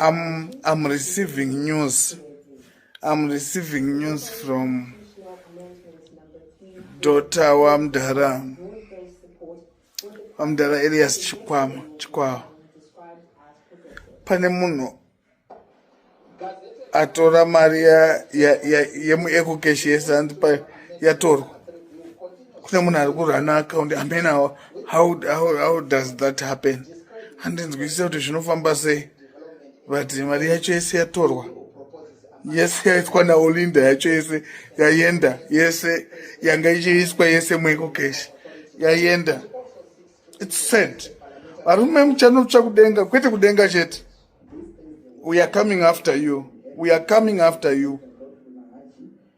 I'm, I'm receiving news. I'm receiving news from daughter Wamdara. Wamdara Elias Chikwama. Chikwama. Pane munhu atora mari yemuecocash yesanzi yatorwa kune munhu ari kurana account amena how, how, how does that happen handinzwisisa kuti zvinofamba sei but mari yacho yese yatorwa yese yaiswa naolinda yacho yese yayenda yese yanga ichiiswa yese mweko keshi yayenda its sad varume muchanotsva kudenga kwete kudenga chete we are coming after you we are coming after you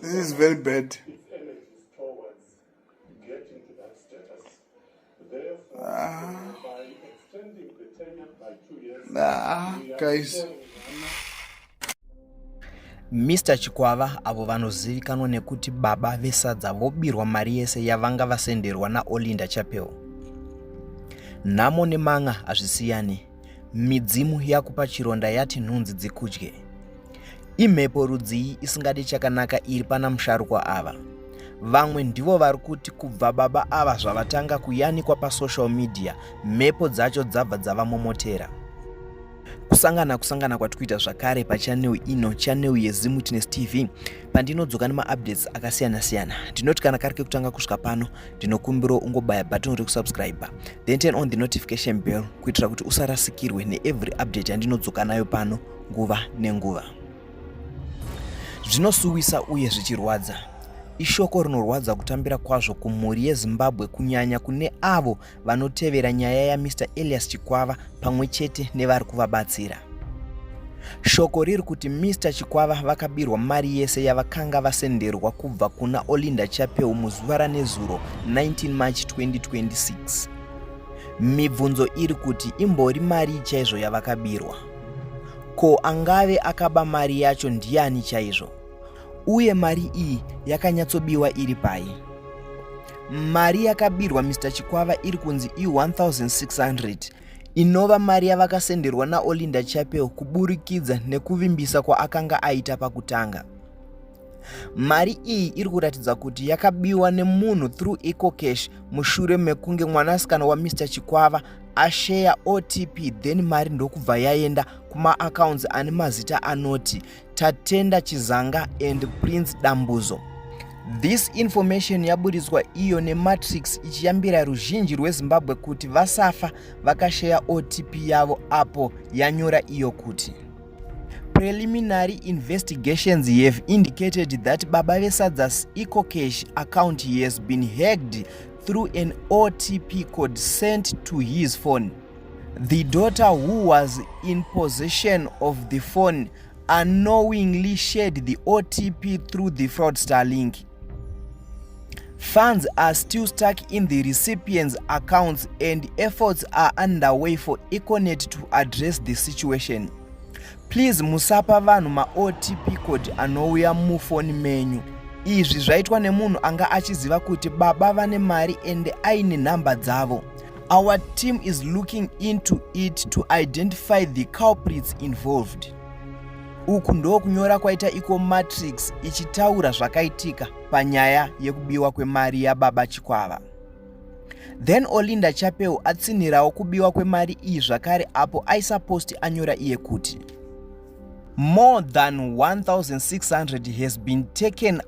This is very bad. Ah. Ah, guys. Mr Chikwava avo vanozivikanwa nekuti baba vesadza vobirwa mari yese yavanga vasenderwa naOlinda Chapel. Nhamo nemanga hazvisiyani. Midzimu yakupa chironda yati nhunzi dzikudye. Imhepo rudzii isingadi chakanaka iri pana musharukwa ava. Vamwe ndivo vari kuti kubva baba ava zvavatanga kuyanikwa pasocial media, mhepo dzacho dzabva dzavamomotera. Kusangana kusangana kwatikuita zvakare pachanel ino, chanel yeZimutinest TV. pandinodzoka nemaupdates akasiyana siyana ndinoti kana kari kekutanga kusvika pano ndinokumbirawo ungobaya button rekusubscribe then turn on the notification bell kuitira kuti usarasikirwe neevery update yandinodzoka nayo pano nguva nenguva zvinosuwisa uye zvichirwadza ishoko rinorwadza kutambira kwazvo kumhuri yezimbabwe kunyanya kune avo vanotevera nyaya yaMr Elias Chikwava pamwe chete nevari kuvabatsira. Shoko riri kuti Mr Chikwava vakabirwa mari yese yavakanga vasenderwa kubva kuna Olinda Chapeu muzuva ranezuro 19 March 2026. Mibvunzo iri kuti imbori mari chaizvo yavakabirwa? Ko angave akaba mari yacho ndiani chaizvo? uye mari iyi yakanyatsobiwa iri pai mari yakabirwa mr chikwava iri kunzi i1600 inova mari yavakasenderwa naolinda chapel kuburikidza nekuvimbisa kwaakanga aita pakutanga mari iyi iri kuratidza kuti yakabiwa nemunhu through ecocash mushure mekunge mwanasikana wamr chikwava asheya otp then mari ndokubva yaenda kumaaccounts ane mazita anoti Tatenda Chizanga and Prince Dambuzo. This information yaburitswa iyo nematrix ichiyambira ruzhinji rwezimbabwe kuti vasafa vakasheya otp yavo apo yanyora iyo kuti preliminary investigations have indicated that baba vesadzas ecocash account has been hacked through an otp code sent to his phone The daughter who was in possession of the phone unknowingly shared the OTP through the fraudster link. Funds are still stuck in the recipient's accounts and efforts are underway for Econet to address the situation. Please musapa vanhu ma OTP code anouya mufoni menyu. Izvi zvaitwa nemunhu anga achiziva kuti baba vane mari and aine nhamba dzavo. Our team is looking into it to identify the culprits involved. Uku ndokunyora kwaita Eco Matrix ichitaura zvakaitika panyaya yekubiwa kwemari yababa Chikwava. Then Olinda Chapeu atsinhirawo kubiwa kwemari iyi zvakare apo aisaposti anyora iye kuti more than 1600 has been taken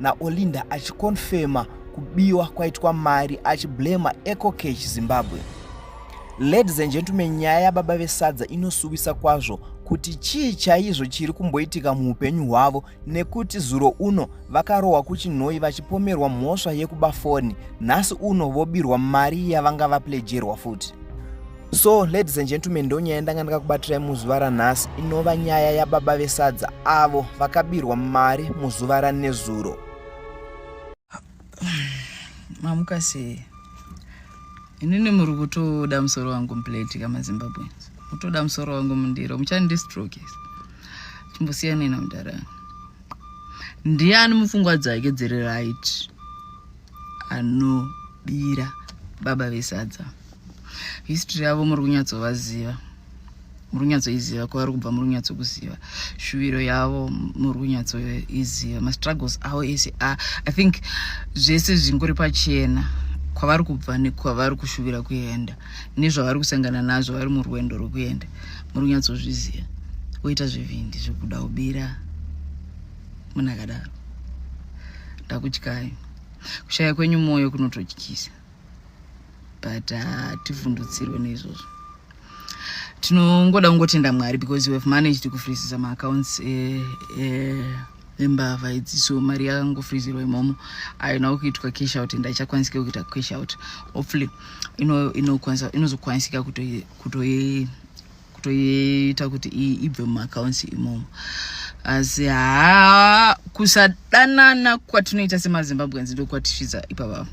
naOlinda achikonfema kubiwa kwaitwa mari achiblema ecocash zimbabwe ladies and gentlemen nyaya yababa vesadza inosuwisa kwazvo kuti chii chaizvo chiri kumboitika muupenyu hwavo nekuti zuro uno vakarohwa kuchinhoi vachipomerwa mhosva yekuba foni nhasi uno vobirwa mari yavanga vaplejerwa futi so ladies and gentlemen ndonyaya ndanga ndakakubatirai muzuva ranhasi inova nyaya yababa vesadza avo vakabirwa mari muzuva ranezuro mamuka sei inini muri kutoda musoro wangu muplate kamazimbabweans mutoda musoro wangu mundiro muchandistrokes chimbosiyanei namudhara ndiani mupfungwa dzake dziri right anobira baba vesadza history yavo muri kunyatsovaziva muri kunyatsoiziva kwavari kubva muri kunyatsokuziva shuviro yavo muri kunyatsoiziva mastruggles avo ese ah, i think zvese zvingori pachena kwavari kubva nekwavari kushuvira kuenda nezvavari kusangana nazvo vari murwendo rwekuenda muri kunyatsozviziva woita zvivindi zvekuda kubira munhu akadaro ndakutyai kushaya kwenyu mwoyo kunototyisa but hativhundutsirwe ah, neizvozvo tinongoda kungotenda mwari because wehave managed kufrizisa maaccounts eh, eh, embavha idzi so mari yakangofrizirwa imomo aina kuitwa cash out and aichakwanisika kuita cash out hopefully inozokwanisika kutoiita kutoiita kuti ibve mumaaccounts imomo asi haa kusadanana kwatinoita semazimbabweans ndokwatisvitsa ipavavo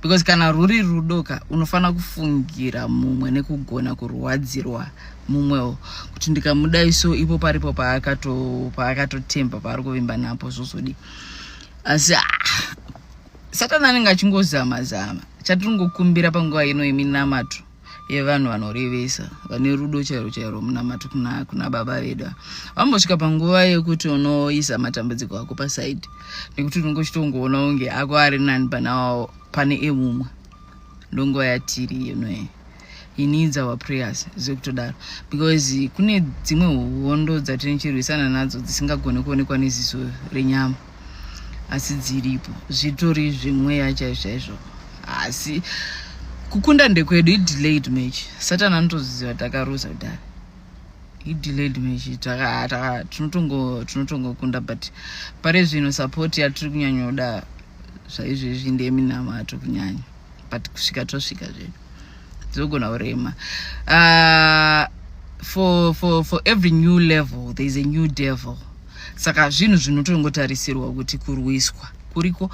because kana ruri rudoka unofanira kufungira mumwe nekugona kurwadzirwa mumwewo kuti ndikamudai so ipo paripo paakatotemba paari kuvimba napo zvozodii asi ah, satani anenge achingozama zama chatiringokumbira panguva ino yeminamato yevanhu vanorevesa vane rudo chairo chairo munamati kuna, kuna baba vedu vambosvika panguva yekuti unoisa matambudziko ako pasaidi nekuti unenge uchitongoona unge ako ari nani pana pane emumwe ndonguva yatiri inoye he needs our prayers zvekutodaro because kune dzimwe hondo dzatinochirwisana nadzo dzisingagone kuonekwa neziso renyama asi dziripo zvitori zvemweya chaizvo chaizvo asi kukunda ndekwedu idelayed match satani anotoziva takaruza kudai idelayed match tinotongokunda but pari zvino support yatiri kunyanyoda zvaizvezvi ndeminamato kunyanya but kusvika tosvika zvedu dzogona kurema uh, for, for, for every new level there is a new devil saka zvinhu zvinotongotarisirwa kuti kurwiswa kuriko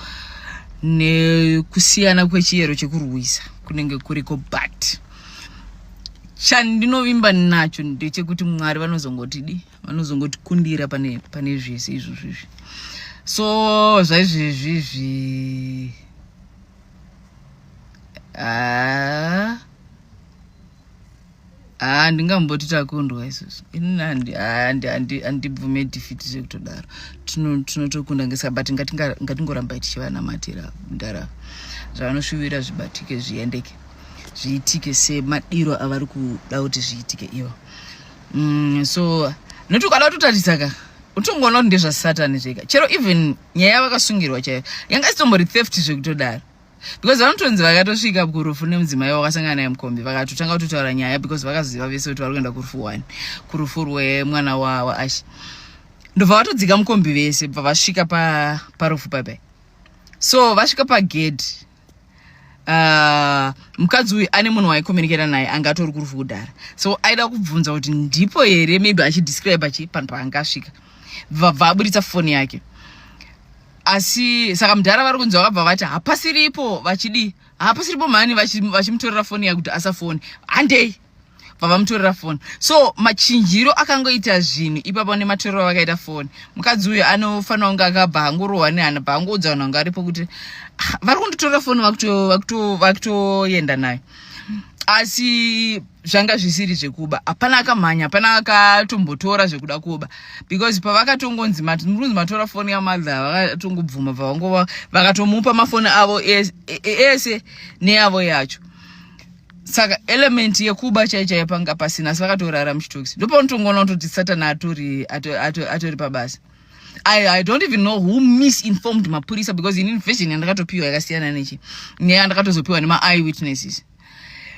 nekusiyana kwechiyero chekurwisa kunenge kuriko but chandinovimba nacho ndechekuti mwari vanozongotidi vanozongotikundira pane, pane zvese izvozvo izvi so zvaizvezvi zvi haa haa ndingamboti takundwa isusu ini handibvume defeat zvekutodaro tinotokunda ngesa but ngatingoramba tichivanamatira ndara zvavanosvuvira zvibatike zviendeke zviitike semadiro avari kuda kuti zviitike ivo mm, so nokuti ukada kutotaridza ka utongoona kuti ndezvasatani zvega chero even nyaya yavakasungirwa chaiyo yanga isitombo retheft zvekutodaro because vanotonzi vakatosvika kurufu nemudzimai wakasangana naye mukombi vakatotanga kutotaura nyaya because vakaziva vese kuti vari kuenda kurufu one kurufu rwemwana waashe ndobva vatodzika mukombi vese bva vasvika parufu pa papai so vasvika pagedhi uh, ah, mukadzi uyu ane munhu waikominikera naye anga atori kurufu kudhara so aida kubvunza kuti ndipo here maybe achidescribe achi panhu paangasvika bva aburitsa foni yake asi saka mudhara vari kunzi vakabva vati hapasiripo vachidii hapasiripo mhani vachimutorera vachi foni yakuti asafoni handei vavamutorera foni so machinjiro akangoita zvinhu ipapo nematorero avakaita foni mukadzi uyo anofanira kunge akabva angorohwa nehana bva angoudza vanhu vanga aripo kuti ah, vari kunditorera foni vakutoenda nayo asi zvanga zvisiri zvekuba hapana akamhanya hapana akatombotora zvekuda kuba because pavakatongonzi murunzi matora foni yamadha vakatongobvuma pavangova vakatomupa mafoni avo e-, e-, ese neyavo yacho saka element yekuba chaichaiyo panga pasina asi vakatorara muchitoksi ndopanotongoona kutoti satana atori atori pabasa I, I don't even know who misinformed mapurisa because in invasion yandakatopiwa yakasiyana nechi neya ndakatozopiwa nema eye witnesses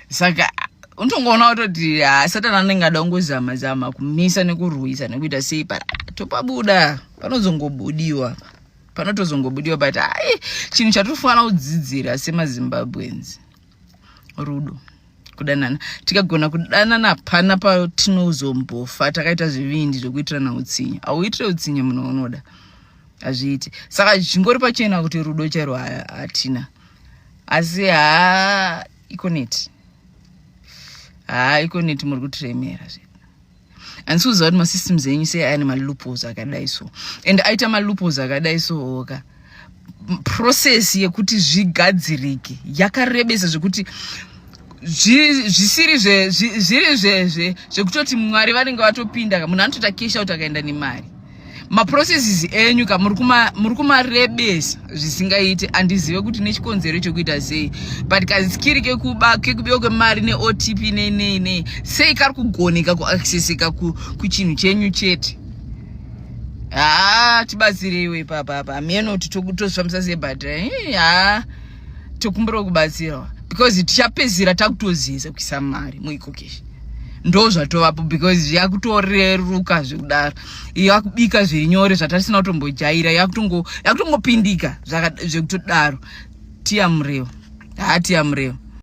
saka unotongoona watoti ah, satani anenge ada kungozama zama kumisa nekurwisa nekuita sei but ah, topabuda panozongobudiwa panotozongobudiwa but ai chinhu chatofanira kudzidzira semazimbabweans rudo kudanana tikagona kudanana pana patinozombofa takaita zvivindi zvekuitirana utsinye auitire utsinye munhu waunoda hazviiti saka zvingori pachena kuti rudo chairo hatina asi haa ikoneti haa ikoneti muri kutiremera zve and so zvaati masystems enyu sei ane malupos akadai so and aita malupos akadai sooka process yekuti zvigadzirike yakarebesa zvekuti zvisiri zviri zvezve zvekutoti mwari vanenge vatopinda munhu anotoita cash out akaenda nemari maprocesses enyu ka muri kumarebesa zvisingaiti handizive kuti nechikonzero chokuita sei but kazikiri kekuba kekubiwa kwemari neotp nei nei nei sei kari kugoneka kuaccesseka kuchinhu chenyu chete haa tibatsireiwe papapa hameno kuti tozvifambisa sei but haa tokumbirawo kubatsirwa because tichapedzisira takutoziisa kuisa mari muikokeshi ndo zvatovapo because zvakutoreruka zvekudaro yakubika zviri nyore zvatatisina kutombojaira yakutongopindika zvekutodaro tiya mureo haa tiya mureo